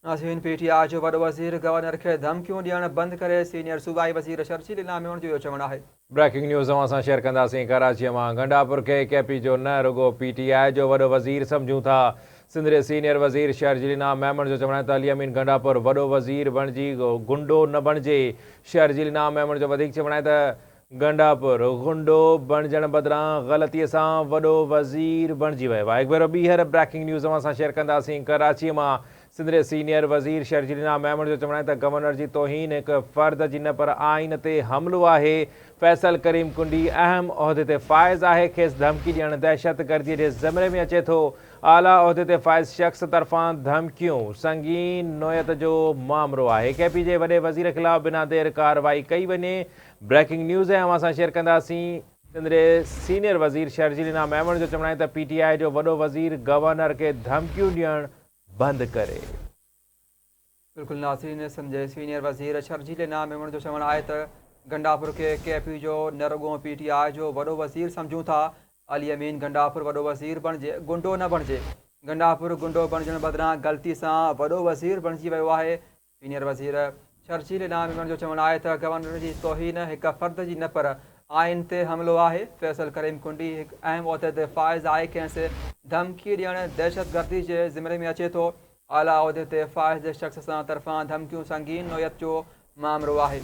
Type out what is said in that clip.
عظيم P T I جو وڏو وزير گورنر کي ڌمڪيون ڏيڻ بند ڪري، سينيئر صوبائي وزير شرجيل انعاميوڻ جو اهو چوڻ آهي. بريڪنگ نيوز اوهان سان شيئر ڪنداسين ڪراچيء مان گنڊاپور کي ڪي پي جو نه رڳو پي ٽي آء جو وڏو وزير سمجهون ٿا سنڌ جي سينيئر وزير شيرجيل انعام ميمڻ جو چوڻ آهي ته علي امين گنڊاپور وڏو وزير بڻجي گنڊو نه بڻجي شيرجيل انعام ميمڻ جو وڌيڪ چوڻ آهي ته گنڊاپور غنڊو بڻجڻ بدران غلطي سان وڏو وزير بڻجي ويو آهي هڪ ڀيرو ٻيهر بريڪنگ نيوز اوهان سان شيئر ڪنداسين ڪراچي مان سنڌ جي سينيئر وزير شرجيلينا ميمڻ جو چوڻ آهي ته گورنر جي توهين هڪ فرد جي نه پر آئين تي حملو آهي فيصل ڪريم ڪنڊي اهم عهدي تي فائز آهي کيس ڌمڪي ڏيڻ دهشت گردي جي زمري ۾ اچي ٿو اعليٰ عهدي تي فائز شخص طرفان ڌمڪيون سنگين نوعيت جو مامرو آهي ڪي پي جي وڏي وزير خلاف بنا دير ڪارروائي ڪئي وڃي بريڪنگ نيوز ۽ اوهان سان شيئر ڪنداسين. سنڌ جي سينيئر وزير شرجيل انعام ميمڻ جو چوڻ آهي ته پي ٽي آء جو وڏو وزير گورنر کي ڌمڪيون ڏيڻ بند ڪري. بلڪل ناظرين سنڌ جي سينيئر وزير شرجيل انعام ميمڻ جو چوڻ آهي ته گنڊاپور کي ڪي پي جو نه رڳو پي ٽي آء جو وڏو وزير سمجهون ٿا علي امين گنڊاپور وڏو وزير بڻجي گنڊو نه بڻجي گنڊاپور گنڊو بڻجڻ بدران غلطي سان وڏو وزير بڻجي ويو آهي سينيئر وزير شرجيل انعام ميمڻ جو چوڻ آهي ته گورنر جي توهين هڪ فرد جي نه پر آئين تي حملو آهي، فيصل ڪريم ڪنڊي هڪ اهم عهديدي فائز آهي ڪنهن سي ڌمڪي ڏيڻ دهشت گردي جي زمري ۾ اچي ٿو، اعليٰ عهدي تي فائز جي شخص سان طرفان ڌمڪيون سنگين نوعيت جو مامرو آهي.